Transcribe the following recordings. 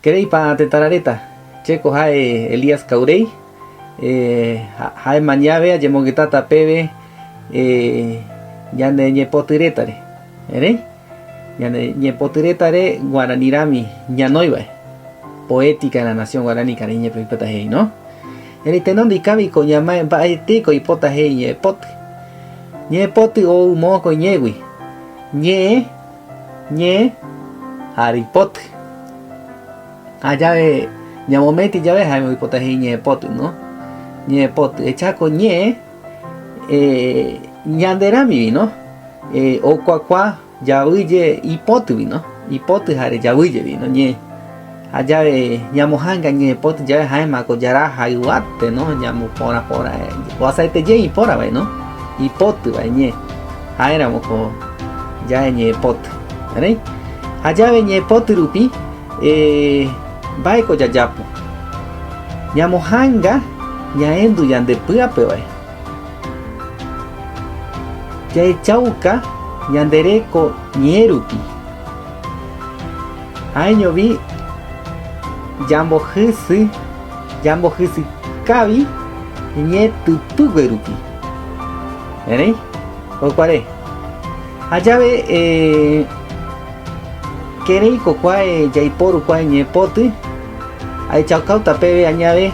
Keréipa tetãraréta? Che ko ha'e Elías Cauréi. Ha'éma ñave ajemongytáta péve ñane ñepoty rétare. Erei ñane ñepoty rétare guarani rami ñanói va'e. Poética de la nación guarani karaiñépe oipota he'i, no? Erei tenondika viko ñamae mba'etéiko oipota he'i ñe'ẽpoty. Ñe'ẽpoty ou moõ koiñégui, ñe'ẽ, ñe, ha reipoty. Ha jave ñamométi jave jaime oipota he'i ñe'ẽpoty, no? Ñe'ẽpoty. Echa ko ñe'ẽ eh, ñande ramivi, no? Eh, okuakua. Javy je ipoty vino, ipoty jare javy je vino ñe'ẽ. Ha jave ñamohanga ñe'ẽpoty jave jaema ko jara ha yvate no ñamoporã porã guasaete je ipora vai no ipoty vai ñe'ẽ. Jaeramo ko jave ñe'ẽpoty. Erei ha jave ñe'ẽpoty rupi eh, mba'e ko jajapo? Ñamohanga ñaendu yande py'ape vai. Jahechauka ñande reko ñe'ẽ rupi, ha'eñovi jambohysy jambohysykávi ñe'ẽ typýgue rupi. Erei jokuare jajave kérei kokuae jaiporu kuae ñe'ẽ poty, ahechaukáta peve añave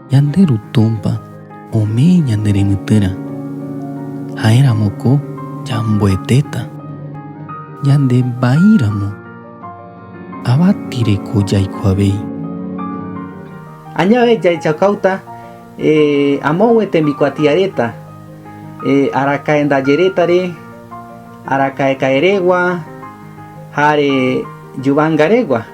Ñande Ru Túmpa ome'ẽ ñande renytýrã, ha'éramo ko ñamboetéta. Ñande vaíramo, avati reko jaikuavéi. Añave jaichaukáuta amóngue tembikuatiaréta, arakaendajerétare, arakaekaeregua, ha are juvangarégua.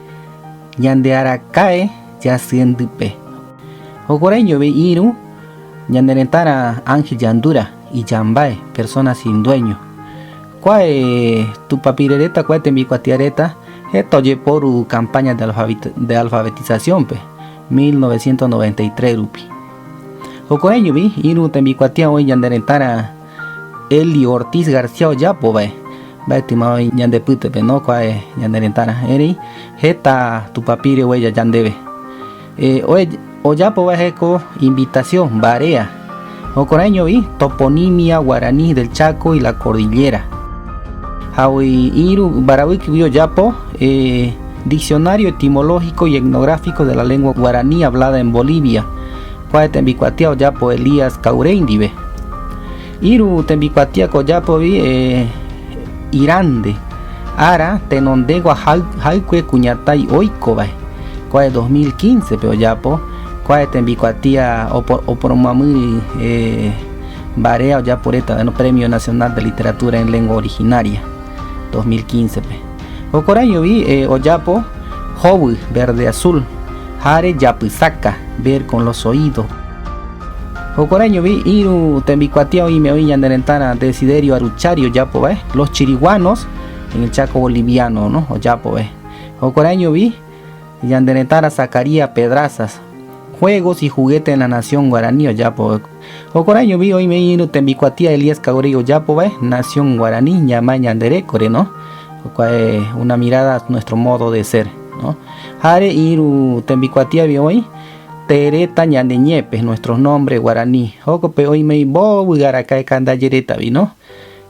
ñande araka'e jasyendype. Jokurai jove irũ ñane retãra ángel jandúra, ijambáe, persona sin dueño. Kuae tupapire reta, kuae tembikuatia reta heta ojeporu campaña de alfabetización-pe 1993 rupi. Jokurai jove irũ tembikuatia oĩ ñane retãra Elio Ortiz García ojapo vae, mba'etyma oĩ ñande pytepe, no kuae ñane retãra, erei heta tupapire huella yandeve. Ojapo vae ko invitación mbarea, jokoraiñovi Toponimia Guaraní del Chaco y la Cordillera. Ha oĩrũ mbaravykigui ojapo Diccionario Etimológico y Etnográfico de la Lengua Guaraní Hablada en Bolivia. Kua tembikuatia ojapo Elías kaurei ndive. Iru tembikuatia ko ojapovi eh, irande. Ára tenondegua haykue kuñatái oikovae. Kua 2015 pe ojapo kua tembikuatia oporomamýri eh, mbarea ojapo reta, bueno, Premio Nacional de Literatura en Lengua Originaria 2015 pe. Jokorãijovi ojapo hovy verde azul ha rejapysaka, ver con los oídos. Jokorãijovi irũ tembikuatia oime oĩ ñane retãrã Desiderio Aruchari ojapo vae, Los chiriguanos, en el Chaco boliviano, no? ojapo vae. Jokorãijovi. Ñande retãra Zacarías Pedrazas, Juegos y juguetes en la nación guaraní ojapo. Jokuarãiñovi oime iñirũ tembikuatia Elías Caureiro ojapo vae nación guaraní ñamae ñande rékore, no? Jokuae una mirada nuestro modo de ser, no? Jare iñirũ tembikuatiavi oĩ tereta ñande ñépe, nuestros nombres guaraní. Jokope oimei mbovy'arakae kandajérétavi, no?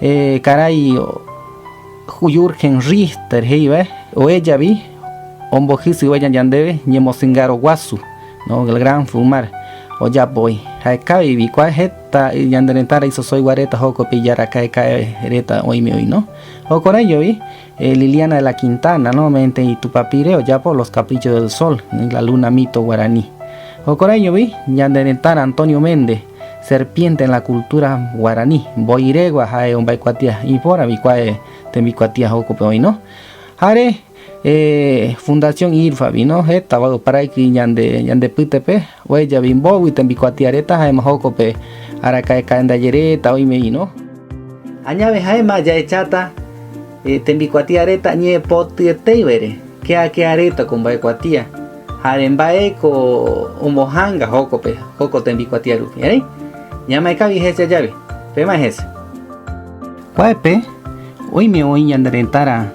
Eh, karai Jürgen Richter he'iva, oéjavi ombohysyvaja ñandéve ñemosingaro guasu, no, el gran fumar, ojapo oĩ. Ha'ekávi vikuaa heta ñande retã ra'isosõigua reta jókope ijaraka'eka'e reta oĩme oĩ, no. Jokorãijovi eh, Liliana de la Quintana, no, ome'ẽte itupapire ojapo Los caprichos del sol, la luna mito guarani. Jokorãijovi ñande retãra Antonio Méndez, Serpiente en la cultura guarani, mbo'irégua ha'e omba'ekuatia ipóra vikuae tembikuatia jokope oĩno, jare Fundación IRFA vino hétava oparaiki ñande ñande pytepe oejavi mbógui tembikuatia reta jaema jokope araka'ekaendaje reta oime vino, añave jaema jahecháta Tembikuatia reta ñe'ẽpotyetéivare, keakea reta ko mba'ekuatia. Jare mba'e ko ombohanga jókope, joko tembikuatia rupi. Erei, ñamae kavi hese jave. Pemae hese. Kuápe, oime oĩ ñande retãra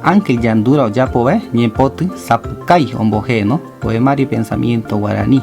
ángel jandúra ojapo vae ñe'ẽpoty sapukái ombohéno, poema repensamiento guaraní.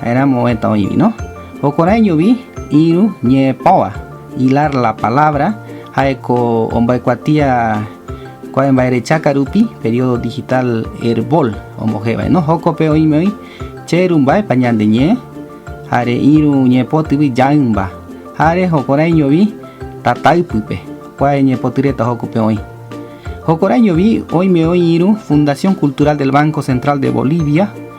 Ha'éramo oĩta oĩvi, no? Jokorãiñovi irũ ñe'ẽpóva, hilar la palabra, ha'éko omba'ekuatia kuae mba'erecha karupi, período digital Herbol ombohévare, no? Jókope oĩme oĩ che rumbáepa ñande ñe'ẽ, jare irũ ñe'ẽpotyvi jaýmba, jare jokorãiñovi tata ypýpe, kuae ñe'ẽpoty reta jókope oĩ. Jokorãiñovi oĩme oĩ irũ Fundación Cultural del Banco Central de Bolivia,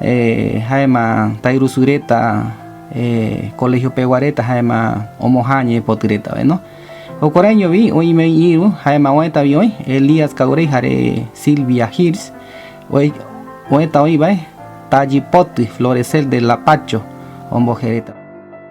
Ha'éma tairusu reta colegio pegua reta ha'éma omohã ñe'ẽpoty retave no. Jokuaraiñovi oime oĩ irũ ha'éma oëtavi oĩ Elías Cauray jare Silvia Hirsch oëta oĩvae Tallypoty, Florecer del Lapacho omboje reta.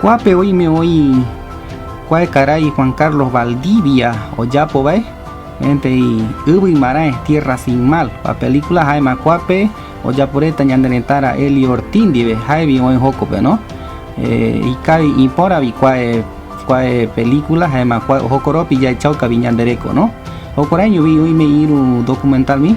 Kuápe oime oĩ kuae karai Juan Carlos Valdivia ojapo vae, Entei yvy marãe, Tierra sin mal, va película, ha'éma kuápe ojapo reta ñande retã ra Elio Ortiz ndive, ha'evi oĩ hókope no. Ikávi ipöra vi kuae, kuae película, ha'éma jokoropi jahechauka vi ñande reko no. Jokuaraiño vi oime irũ documental vi.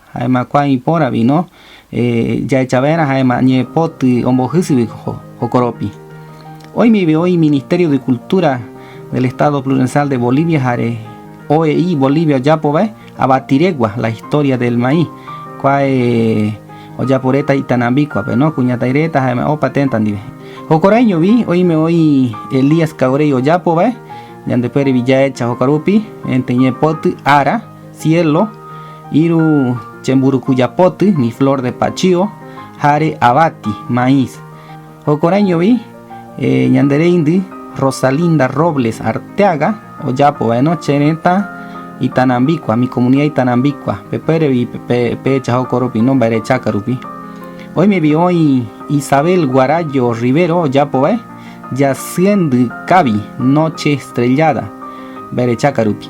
Ha'éma kua ipóra víno jahechava'erã ha'éma ñepoty ombohýsegui jokoropi. Oimeve oĩ Ministerio de Cultura del Estado Plurensal de Bolivia jare OEI Bolivia ojapova'e Avatiregua, la historia del maíz. Kua ojaporéta Itanambíkuape, kuñataireta ha'éma opa ténta ndive. Jokoraiñovi oime oĩ Elías Caureiro ojapova'e, ñandepuérevi jahecha jokarupi, ente ñepoty ára. Cielo, iru chemburukujapoty, mi flor de pachío, jare avati, maíz. Jokorãijovi ñande reindy Rosalinda Robles Arteaga ojapo vaeno Che retã itanambíkua, mi comunidad itanambíkua, pepérevi pehecha jokoropi, no mbaerechaka rupi. Oimevi oĩ Isabel Guarayo Rivero ojapo vae Jasyendy kavi, noche estrellada, mbaerechaka rupi.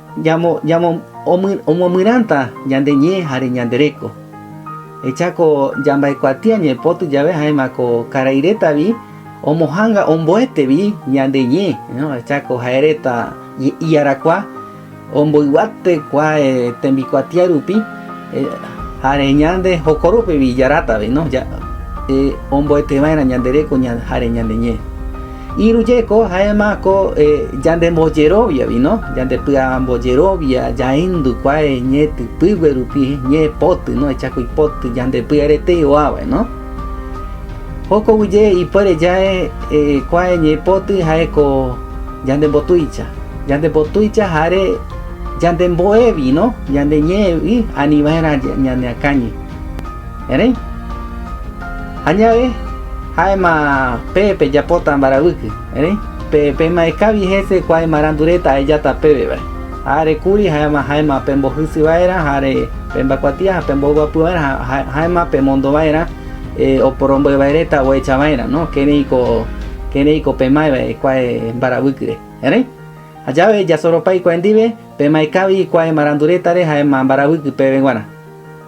Ñamomyrãta ñande ñe jare ñande reko. Echa ko jamba'ekuatia ñaipóty jave jaema ko karai reta vi omohanga omboete vi ñande ñe. Echa ko jae reta iarakua omboyguate kua tembikuatia rupi jare ñande jokorópe vi jaráta vi omboete vaerã ñande reko jare ñande ñe. Iru jeko jaema ko yande mboyerovia vi no, yande py'amboyerovia yaendu kua ñe typygue rupi, ñe poty no, echa ko ipoty yande py'aretei oa vae no. Jokogui ye ipuere yae kua ñe poty jae ko yande mbotuicha, yande mbotuicha jare yande mbo'e vi no, yande ñe'e vi ani vaerã ñaneakañi. erei. Añave ha'éma pe pejapóta mbaravýky, erei pema'ẽkávi hese kua imarandu reta ahejáta péve vare. Áre kuri ha'éma ha'éma pembohysy va'erã ha pemba'ekuatia ha pemboguapy va'erã ha ha'éma pemondo va'erã oporombo'e vae reta ohecha va'erã, kérei ko pema'ẽ vae kua mbaravýkyre. Erei ha jave jasoropái kua ndive, pema'ẽkávi kua imarandu rétare ha'éma mbaravýky péve guarã.